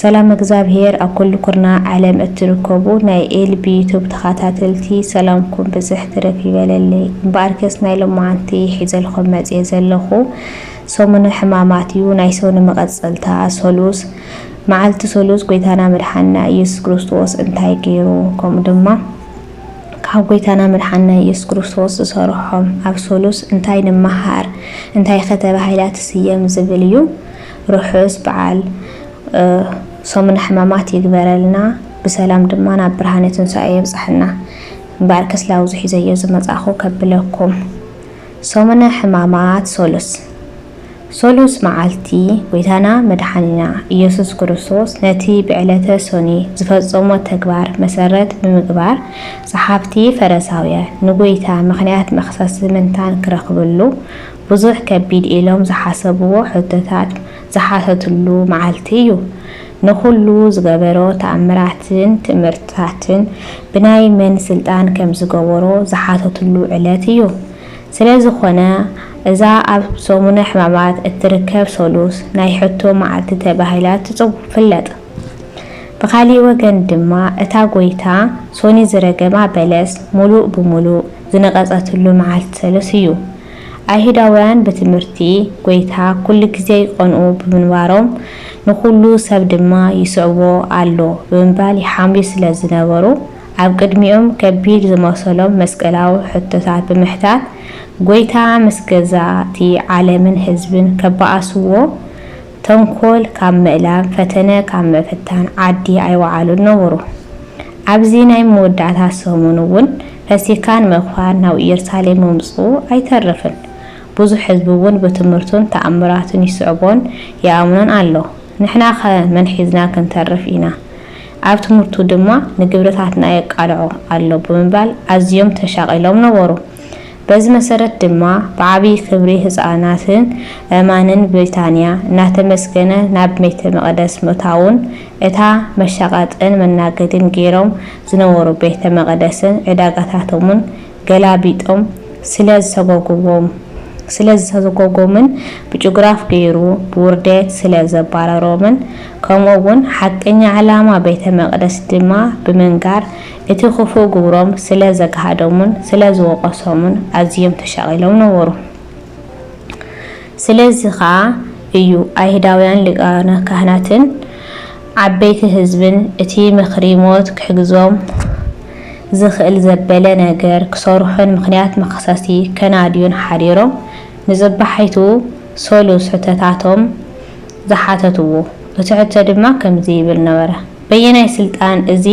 ሰላም እግዝኣብሄር ኣብ ኩሉ ኩርናዕ ዓለም እትርከቡ ናይ ኤልቢ ዩቱብ ተኻታተልቲ ሰላምኩም ብዝሕ ትርፍ ይበለለይ እምበኣርከስ ናይ ሎማዓንቲ ሒዘልኹም መጽየ ዘለኹ ሰሙነ ሕማማት እዩ ናይ ሰኑ መቐጸልታ ሰሉስ መዓልቲ ሰሉስ ጎይታና መድሓንና ኢየሱስ ክርስቶስ እንታይ ገይሩ ከምኡ ድማ ካብ ጎይታና መድሓንና ኢየሱስ ክርስቶስ ዝሰርሖም ኣብ ሰሉስ እንታይ ንመሃር እንታይኸ ተባሂላ ትስየም ዝብል እዩ ርሑስ በዓል ሰሙነ ሕማማት ይግበረልና ብሰላም ድማ ናብ ብርሃነ ትንሳኤ የብጽሓና። እምበኣር ከስላው'ዚ ሒዘዮ ዝመጻእኩ ከብለኩም ሰሙነ ሕማማት ሰሉስ ሰሉስ መዓልቲ ጎይታና መድሓኒና ኢየሱስ ክርስቶስ ነቲ ብዕለተ ሰኑይ ዝፈጸሞ ተግባር መሰረት ብምግባር ጸሓፍቲ ፈረሳውያን ንጎይታ ምኽንያት መኽሰሲ ምንታን ክረኽብሉ ብዙሕ ከቢድ ኢሎም ዝሓሰብዎ ሕቶታት ዝሓተትሉ መዓልቲ እዩ። ንኹሉ ዝገበሮ ተኣምራትን ትእምርትታትን ብናይ መን ስልጣን ከም ዝገበሮ ዝሓተትሉ ዕለት እዩ። ስለ ዝኾነ እዛ ኣብ ሰሙነ ሕማማት እትርከብ ሰሉስ ናይ ሕቶ መዓልቲ ተባሂላ ትፍለጥ። ብኻሊእ ወገን ድማ እታ ጎይታ ሶኒ ዝረገማ በለስ ሙሉእ ብሙሉእ ዝነቐጸትሉ መዓልቲ ሰሉስ እዩ። ኣይሁዳውያን ብትምህርቲ ጐይታ ኵሉ ግዜ ይቐንኡ ብምንባሮም፣ ንዅሉ ሰብ ድማ ይስዕቦ ኣሎ ብምባል ይሓምዩ ስለ ዝነበሩ፣ ኣብ ቅድሚኦም ከቢድ ዝመሰሎም መስቀላዊ ሕቶታት ብምሕታት፣ ጐይታ ምስ ገዛእቲ ዓለምን ህዝብን ከባእስዎ፣ ተንኮል ካብ ምእላም፣ ፈተነ ካብ ምፍታን ዓዲ ኣይወዓሉን ነበሩ። ኣብዚ ናይ መወዳእታ ሰሙን እውን ፈሲካን ምክፋን ናብ ኢየሩሳሌም ምምጽኡ ኣይተርፍን። ብዙሕ ሕዝቢ እውን ብትምህርቱን ተኣምራቱን ይስዕቦን ይኣምኖን ኣሎ። ንሕናኸ መን ሒዝና ክንተርፍ ኢና? ኣብ ትምህርቱ ድማ ንግብርታትና የቃልዖ ኣሎ ብምባል ኣዝዮም ተሻቒሎም ነበሩ። በዚ መሰረት ድማ ብዓብዪ ክብሪ ህፃናትን ኣእማንን ብሪታንያ እናተመስገነ ናብ ቤተ መቕደስ ምእታውን እታ መሻቐጥን መናገዲን ገይሮም ዝነበሩ ቤተ መቕደስን ዕዳጋታቶምን ገላቢጦም ስለ ዝሰጎጉዎም ስለ ዝሰጎጎምን ብጭጉራፍ ገይሩ ብውርዴት ስለ ዘባረሮምን ከምኡ እውን ሓቀኛ ዕላማ ቤተ መቕደስ ድማ ብምንጋር እቲ ኽፉእ ግብሮም ስለ ዘግሃዶምን ስለ ዝወቐሶምን ኣዝዮም ተሻቒሎም ነበሩ። ስለዚ ኸኣ እዩ ኣይሁዳውያን ሊቃነ ካህናትን ዓበይቲ ህዝብን እቲ ምኽሪ ሞት ክሕግዞም ዝኽእል ዘበለ ነገር ክሰርሑን ምኽንያት መኽሰስቲ ከናድዩን ሓዲሮም ንጽባሒቱ ሰሉስ ሕቶታቶም ዝሓተትዎ። እቲ ሕቶ ድማ ከምዚ ይብል ነበረ። በየናይ ስልጣን እዚ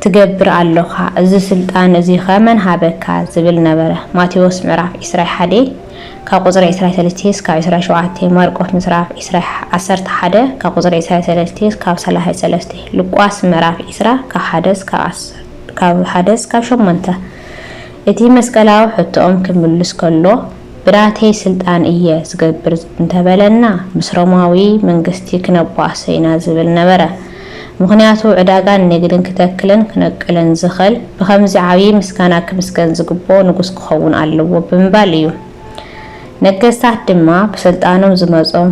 ትገብር ኣሎኻ? እዚ ስልጣን እዚኸ መን ሃበካ? ዝብል ነበረ። ማቴዎስ ምዕራፍ ዕስራይ ሓደ ካብ ቁጽሪ ዕስራይ ሰለስቴ እስካብ ዕስራይ ሸውዓቴ፣ ማርቆስ ምጽራፍ ዕስራይ ዓሰርተ ሓደ ካብ ቁጽሪ ዕስራይ ሰለስቴ እስካብ ሰላሳይ ሰለስቴ፣ ሉቃስ ምዕራፍ ዕስራ ካብ ሓደ እስካብ ዓሰርተ ካብ ሓደ እስካብ ሸሞንተ፣ እቲ መስቀላዊ ሕቶኦም ክምልስ ከሎ ብናተይ ስልጣን እየ ዝገብር እንተበለና ምስ ሮማዊ መንግስቲ ክነቧእሶ ኢና ዝብል ነበረ። ምኽንያቱ ዕዳጋን ንግድን ክተክልን ክነቅልን ዝኽል ብኸምዚ ዓብዪ ምስጋና ክምስገን ዝግብኦ ንጉስ ክኸውን ኣለዎ ብምባል እዩ። ነገስታት ድማ ብስልጣኖም ዝመጾም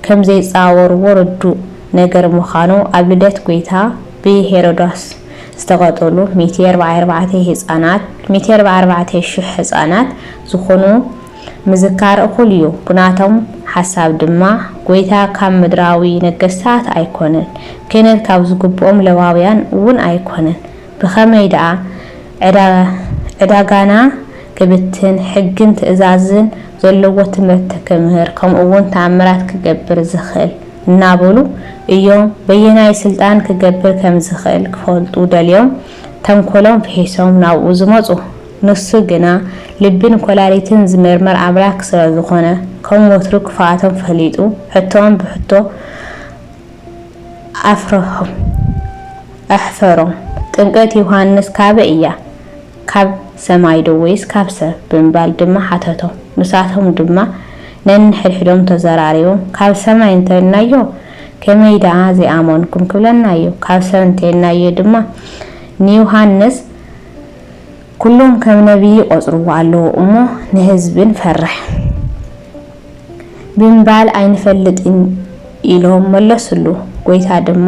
ከምዘይጻወርዎ ርዱእ ነገር ምዃኑ ኣብ ልደት ጎይታ ብሄሮዶስ ዝተቐተሉ ሚእቲ ኣርባዓይ ኣርባዕተ ህጻናት ሚእቲ ኣርባዓይ ኣርባዕተ ሽሕ ህጻናት ዝኹኑ ምዝካር እኹል እዩ። ብናቶም ሓሳብ ድማ ጎይታ ካብ ምድራዊ ነገስታት ኣይኮነን፣ ክህነት ካብ ዝግብኦም ለዋውያን እውን ኣይኮነን። ብኸመይ ደኣ ዕዳ ዕዳጋና ክብትን ሕግን ትእዛዝን ዘለዎ ትምህርቲ ክምህር ከምኡውን ተኣምራት ክገብር ዝኽእል? እናበሉ እዮም በየናይ ስልጣን ክገብር ከምዝኽእል ክፈልጡ ደልዮም ተንኮሎም ፍሒሶም ናብኡ ዝመፁ። ንሱ ግና ልብን ኮላሊትን ዝምርምር ኣምላክ ስለዝኾነ ከም ወትሩ ክፍኣቶም ፈሊጡ ሕቶኦም ብሕቶ ኣፍረሖም። ኣሕፈሮም። ጥምቀት ዮሃንስ ካበይ እያ? ካብ ሰማይ ዶ ወይስ ካብ ሰብ? ብምባል ድማ ሓተቶም። ንሳቶም ድማ ነንሕድሕዶም ተዘራሪቦም፣ ካብ ሰማይ እንተ ኢልናዮ፣ ከመይ ደኣ ዘይኣመንኩም ክብለና እዩ፣ ካብ ሰብ እንተ ኢልናዮ ድማ፣ ንዮሃንስ ኵሎም ከም ነብዪ ይቈጽርዎ ኣለዉ እሞ፣ ንህዝቢ ንፈርሕ። ብምባል ኣይንፈልጥን ኢሎም መለሱሉ። ጐይታ ድማ፣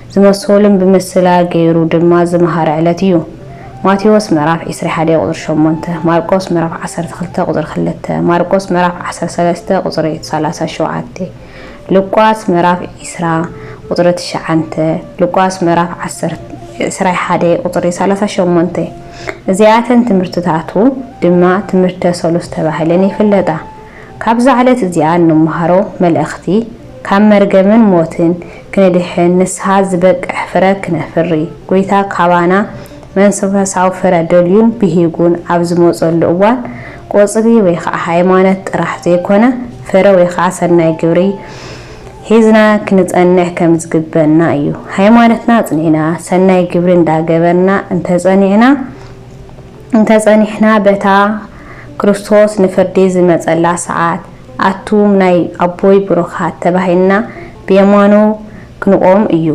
ዝመሰሉን ብምስላ ገይሩ ድማ ዝመሃረ ዕለት እዩ። ማቴዎስ ምዕራፍ ዕስራ ሓደ ቁጽሪ ሸሞንተ፣ ማርቆስ ምዕራፍ ዓሰርተ ክልተ ቁጽሪ ክልተ፣ ማርቆስ ምዕራፍ ዓሰርተ ሰለስተ ቁጽሪ ሰላሳ ሸውዓተ፣ ሉቃስ ምዕራፍ ዕስራ ቁጽሪ ትሽዓንተ፣ ሉቃስ ምዕራፍ ዓሰርተ ዕስራ ሓደ ቁጽሪ ሰላሳ ሸሞንተ። እዚኣተን ትምህርትታቱ ድማ ትምህርተ ሰሉስ ተባሂለን ይፍለጣ። ካብዛ ዕለት እዚኣ እንመሃሮ መልእኽቲ ካብ መርገምን ሞትን ክንድሕን ንስሃ ዝበቅሕ ፍረ ክነፍሪ ጎይታ ካባና መንስፈሳዊ ፍረ ደልዩን ብሂጉን ኣብ ዝመጸሉ እዋን ቆጽሊ ወይ ከኣ ሃይማኖት ጥራሕ ዘይኮነ ፍረ ወይ ከኣ ሰናይ ግብሪ ሒዝና ክንጸንሕ ከምዝግበእና እዩ ሃይማኖትና ኣጽኒዕና ሰናይ ግብሪ እንዳገበርና እንተጸኒዕና እንተ ጸኒሕና በታ ክርስቶስ ንፍርዲ ዝመጸላ ሰዓት ኣቱም ናይ ኣቦይ ብሩኻት ተባሂልና ብየማኑ ክንቆም እዩ።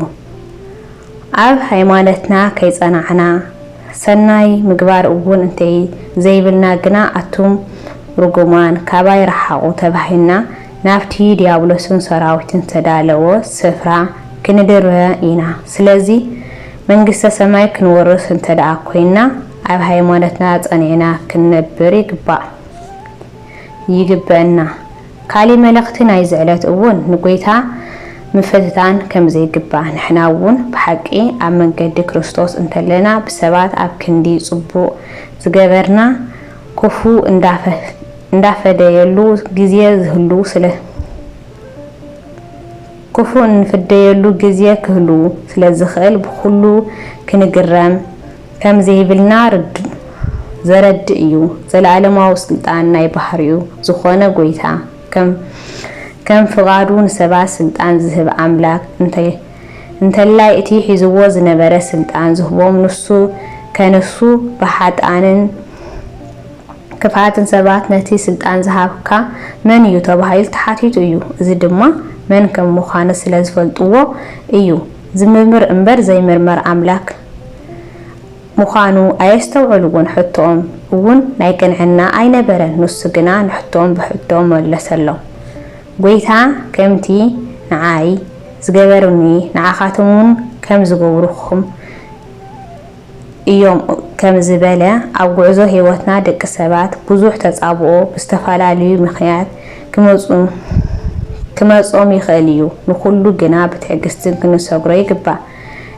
ኣብ ሃይማነትና ከይጸናዕና ሰናይ ምግባር እውን እንተ ዘይብልና ግና ኣቱም ርጉማን ካባይ ረሓቑ ተባሂልና ናብቲ ድያብሎስን ሰራዊቱን ዝተዳለዎ ስፍራ ክንድርበ ኢና። ስለዚ መንግስተ ሰማይ ክንወርስ እንተድኣ ኮይንና ኣብ ሃይማኖትና ጸኒዕና ክንነብር ይግባእ ይግበእና። ካሊእ መልእኽቲ ናይዚ ዕለት እውን ንጎይታ ምፍትታን ከምዘይግባእ ንሕና እውን ብሓቂ ኣብ መንገዲ ክርስቶስ እንተለና ብሰባት ኣብ ክንዲ ጽቡቕ ዝገበርና ክፉ እንዳፈደየሉ ግዜ ዝህሉ ስለ ክፉእ እንፍደየሉ ግዜ ክህሉ ስለዝኽእል ብኹሉ ክንግረም ከምዘይብልና ርዱእ ዘረድእ እዩ። ዘለኣለማዊ ስልጣን ናይ ባህሪኡ ዝኾነ ጎይታ ከም ፍቓዱ ንሰባት ስልጣን ዝህብ ኣምላክ እንተላይ እቲ ሒዝዎ ዝነበረ ስልጣን ዝህቦም ንሱ ከንሱ ብሓጥኣንን ክፍኣትን ሰባት ነቲ ስልጣን ዝሃብካ መን እዩ ተባሂሉ ተሓቲቱ እዩ እዚ ድማ መን ከም ምዃኑ ስለ ዝፈልጥዎ እዩ ዝምርምር እምበር ዘይምርመር ኣምላክ ምዃኑ ኣየስተውዕልዎን ሕቶኦም እውን ናይ ቅንዕና ኣይነበረን ንሱ ግና ንሕቶኦም ብሕቶ መለሰሎም ጎይታ ከምቲ ንዓይ ዝገበሩኒ ንዓኻትም እውን ከም ዝገብሩኹም እዮም ከም ዝበለ ኣብ ጉዕዞ ህይወትና ደቂ ሰባት ብዙሕ ተጻብኦ ብዝተፈላለዩ ምክንያት ክመጾም ይክእል እዩ ንኩሉ ግና ብትዕግስትን ክንሰግሮ ይግባእ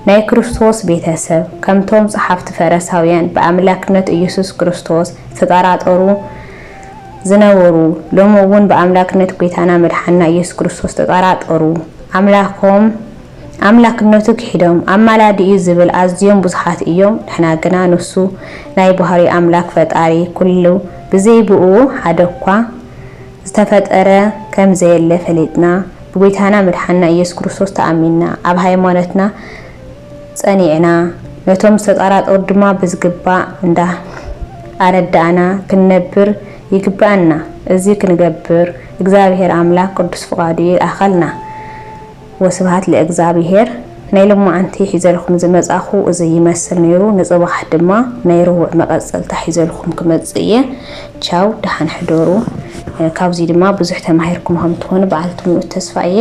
ናይ ክርስቶስ ቤተ ሰብ ከምቶም ጸሓፍቲ ፈረሳውያን ብኣምላክነት እየሱስ ክርስቶስ ዝተጠራጠሩ ዝነበሩ ሎሚ እውን ብኣምላክነት ጎይታና መድሓንና እየሱስ ክርስቶስ ዝተጠራጠሩ ኣምላኮም ኣምላክነቱ ክሒዶም ኣማላዲ እዩ ዝብል ኣዝዮም ብዙሓት እዮም ንሕና ግና ንሱ ናይ ባህርይ ኣምላክ ፈጣሪ ኩሉ ብዘይ ብእኡ ሓደ እኳ ዝተፈጠረ ከም ዘየለ ፈሊጥና ብጎይታና መድሓንና ኢየሱስ ክርስቶስ ተኣሚንና ኣብ ሃይማኖትና ጸኒዕና ነቶም ዝተጣራጠሩ ድማ ብዝግባእ እንዳ ኣረዳእና ክንነብር ይግበኣና እዚ ክንገብር እግዚኣብሔር ኣምላክ ቅዱስ ፍቃዱ ይልኣኸልና። ወስብሃት ለእግዝኣብሄር ናይ ሎማዓንቲ ሒዘልኩም ዝመፃኹ እዙይ ይመስል ነይሩ ንፅባሕ ድማ ናይ ርውዕ መቀፀልታ ሒዘልኩም ክመፅእ እየ ቻው ደሓን ሕደሩ ካብዙይ ድማ ብዙሕ ተማሂርኩም ከምትኾኑ በዓልቲ ሙሉእ ተስፋ እየ።